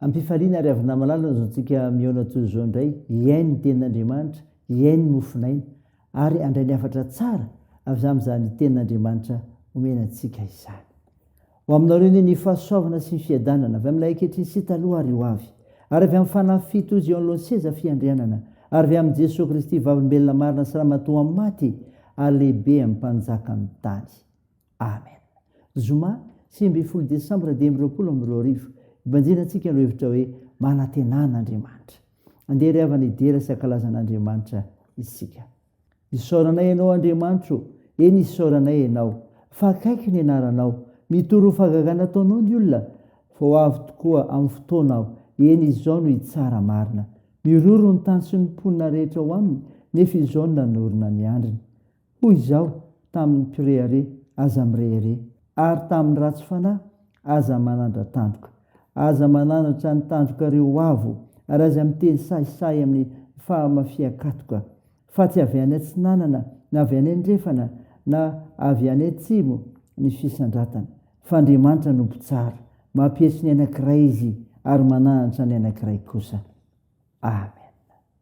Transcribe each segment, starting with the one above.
Am-pifaliana ry havona malala izao tsika mihaona toy izao indray hihaino ny tenin'Andriamanitra, hihaino ny mofonaina ary handray ny hafatra tsara avy amin'izany tenin'Andriamanitra omena antsika izany. Ho aminareo anie ny fahasoavana sy ny fiadanana avy amin'ilay ankehitriny sy taloha ary ho avy, ary avy amin'ny fanahy fito ozy eo anoloan'ny seza fiandrianana, ary avy amin'i Jesoa Kristy Vavolombelona marina sy Ramatoa maty ary lehibe amin'ny Mpanjakan'ny tany. Amen! Zoma sivy ambin'ny folo desambra dimy amby roapolo amby roa arivo, hibanjina antsika ny hevitra hoe manantena an'Andriamanitra. Andeha ry havana hidera sy hankalaza an'Andriamanitra isika. Isaoranay Ianao Andriamanitra o! Eny isaoranay Ianao fa akaiky ny anaranao. Mitory ho fahagagana ataonao ny olona fa ho avy tokoa amin'ny fotoana aho, eny izao no hitsara marina. Miroro ny tany sy ny mponina rehetra ao aminy nefa izao no nanorina ny andriny. Hoy Izaho tamin'ny mpirehareha, Aza mirehareha, ary tamin'ny ratsy fanahy, Aza manandra-tandroka. Aza mananatra ny tandrokareo ho avo, ary aza miteny sahisahy amin'ny fahamafian-katoka, fa tsy avy any atsinanana, na avy any andrefana, na avy any atsimo ny fisandratana, fa Andriamanitra no Mpitsara, mampietso ny anankiray Izy, ary mananatra ny anankiray kosa. Amen.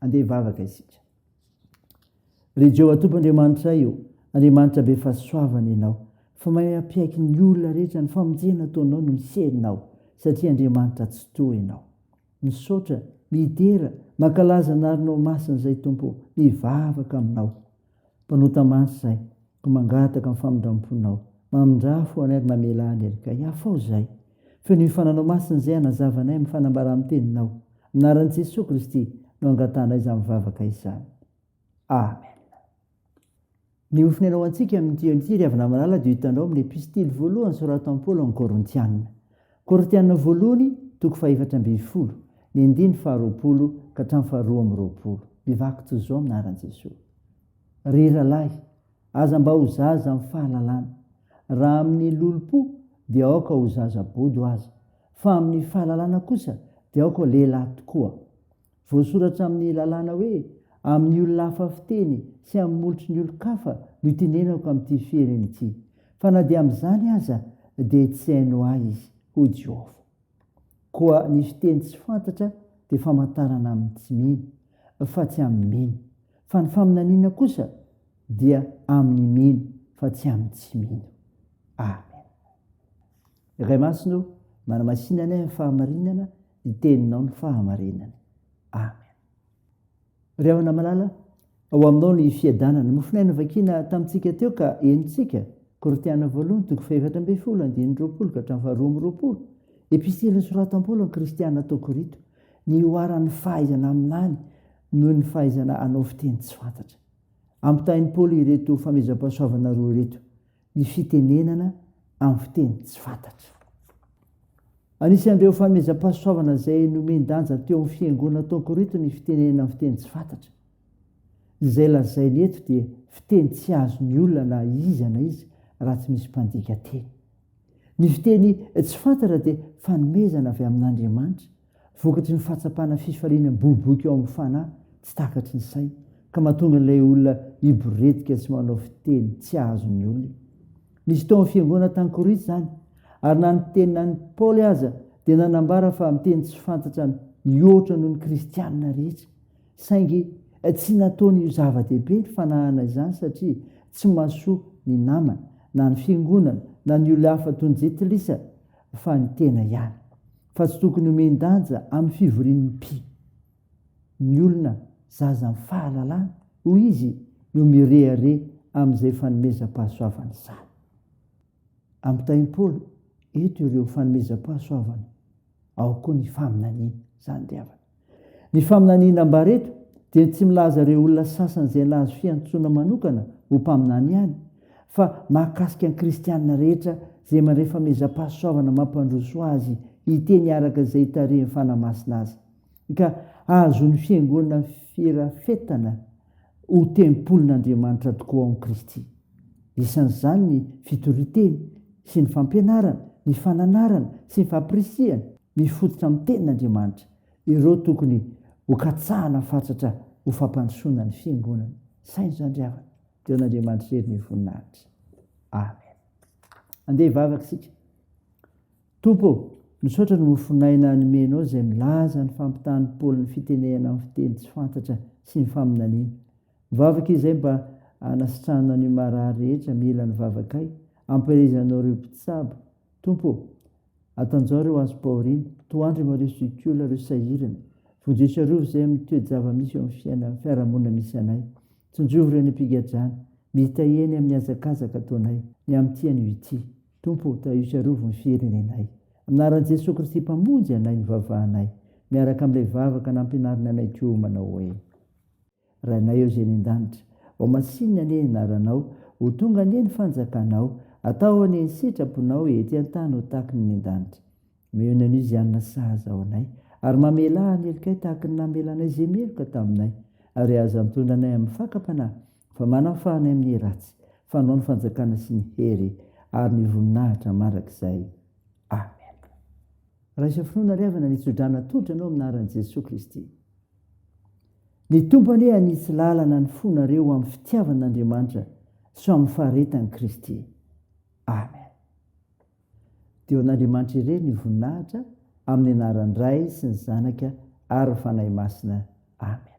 Andeha hivavaka isika. Ry Jehovah Tompo Andriamanitray o, Andriamanitra be fahasoavana Ianao, fa mahay mampiaiky ny olona rehetra, ny famonjena ataonao no miserinao, satria Andriamanitra tsy toa Ianao. Misaotra, midera, mankalaza anarnao masina izay Tompo, mivavaka aminao. Mpanota mantsy izay ka mangataka ny famindramponao. Mamindrà fo anay ary mamelà ny helikay. Afao izay. Feo ny mifananao masina izay hanazava anay amin'ny fanambara amin'ny teninao. Amin'ny anaran'i Jesoa Kristy no angatanay izany vavaka izany. Amen. Ny ho fonenao antsika amin'ity andro ity ry havana malala dia ho hitanao amin'ny epistily voalohany soratan'i Paoly ao amin'ny Korintiana. Korintiana Voalohany toko fahefatra ambin'ny folo, ny andininy faharoapolo ka hatramin'ny faharoa amby roapolo, mivaky toy izao amin'ny anaran'i Jesoa, Ry rahalahy, aza mba ho zaza amin'ny fahalalana, raha amin'ny lolompo dia aoka ho zaza bodo aza, fa amin'ny fahalalana kosa dia aoka lehilahy tokoa. Voasoratra amin'ny lalàna hoe amin'ny olona hafa fiteny sy amin'ny molotry ny olon-kafa no itenenako amin'ity fihiriny ity, fa na dia amin'izany aza dia tsy haino ahy izy, hoy Jehovah. Koa ny fiteny tsy fantatra dia famantarana amin'ny tsy mino, fa tsy amin'ny mino, fa ny faminaniana kosa dia amin'ny mino, fa tsy amin'ny tsy mino. Amen. Ray Masina ô, manamasina anay amin'ny fahamarinana, ny teninao ny fahamarinana. Amen. Ry havana malala, ao aminao ny fiadanana. Mofonay novakiana tamintsika teo ka henontsika. Korintiana voalohany, toko fahefatra ambin'ny folo, andininy roapolo ka hatramin'ny faharoa amby roapolo. Epistily nosoratan'i Paoly ny Kristiana tao Korinto. Nihoaran'ny fahaizana aminany noho ny fahaizana hanao fiteny tsy fantatra. Ampitahain'i Paoly ireto famezam-pahasoavana roa ireto. ny fitenenana amin'ny fiteny tsy fantatra. Anisan'ireo fanomezam-pahasoavana izay nomen-danja teo amin'ny fiangonana tao Korinto ny fitenenana amin'ny fiteny tsy fantatra. Izay lazainy eto dia fiteny tsy azon'ny olona na iza na iza raha tsy misy mpandika teny. Ny fiteny tsy fantatra dia fanomezana avy amin'Andriamanitra Vokatry ny fahatsapana fifaliana miboiboika ao amin'ny fanahy tsy takatry ny saina, ka mahatonga an'ilay olona hiboretika sy manao fiteny tsy azon'ny olona. Nisy tao amin'ny fiangonana tany Korinto izany, ary na ny teny na ny Paoly aza dia nanambara fa miteny tsy fantatra mihoatra noho ny Kristianina rehetra. Saingy tsy nataony ho zava-dehibe ny fanahana izany satria tsy mahasoa ny namana, na ny fiangonana, na ny olona hafa toy ny jentilisa, fa ny tena ihany. Fa tsy tokony homen-danja amin'ny fivorian'ny mpi ny olona zaza amin'ny fahalalana, hoy izy no mirehareha amin'izay fanomezam-pahasoavana izany. Ampitain'i Paoly eto ireo fanomezam-pahasoavana ao koa ny faminaniana. Izany dia havana. Ny faminaniana ambara eto dia ny tsy milaza ireo olona sasany izay nahazo fiantsoana manokana ho mpaminany ihany fa mahakasika ny kristiana rehetra izay mandray famezam-pahasoavana mampandroso azy hiteny araka izay hitarihin'ny Fanahy Masina azy ka hahazoan'ny Fiangonana firafetana Ho tempolin'Andriamanitra tokoa ao amin'i Kristy. Isan'izany ny fitorian-teny sy ny fampianarana, ny fananarana sy ny fampirisihana mifototra amin'ny Tenin'Andriamanitra. Ireo tokony hokatsahana fatratra ho fampandrosoana ny Fiangonana. Saino izany ry havana. Deo an'Andriamanitra irery ny voninahitra. Amen. Andeha hivavaka isika. Tompo ô, misaotra ny mofon'aina nomenao izay milaza ny fampitahan'i Paoly ny fitenehana amin'ny fiteny tsy fantatra sy ny faminaniana. Mivavaka izahay mba hanasitrahanao ny marary rehetra mila ny vavakay, ampielezanao ireo mpitsabo. Tompo ô, atanjaho ireo azo pahoriana, toa an-dry Mario Zucciola ireo sahirana. Vonjeo sy arovy izay amin'ny toe-java-misy eo amin'ny fiainan'ny fiarahamonina misy anay. Tsinjovy ireo any am-pigadrana, mitahiany amin'ny hazakazaka ataonay, ny amin'ny tia an'io ity. Tompo ô, tahio sy arovy ny firenenay. Amin'anaran'i Jesoa Kristy Mpamonjy anay ny vavahanay, miaraka amin'ilay vavaka nampianariny anay koa manao hoe, Rainay ô izay any an-danitra, ho masinina anie ny anaranao, ho tonga anie ny fanjakanao, atao anie ny sitraponao ety an-tany ho takiny any an-danitra. Omeo ny an'izy hanana sahaza ao anay, ary mamelà ny helokay tahaka ny namelanay izay meloka taminay, ary aza antondra anay amin'ny fakam-panahy, fa manafaha anay amin'ny ratsy, fa anao ny fanjakana sy ny hery ary ny voninahitra mandrakizay. Amen. Raiso finoana ry havana ny tso-drano atolotro anao amin'ny anaran'i Jesoa Kristy. Ny Tompo anie hanitsy lalana ny fonareo ho amin'ny fitiavan'Andriamanitra sy ho amin'ny faharetan'i Kristy. Amen. Dia ho an'Andriamanitra irery ny voninahitra amin'ny anaran'ny Ray sy ny Zanaka ary ny Fanahy Masina. Amen.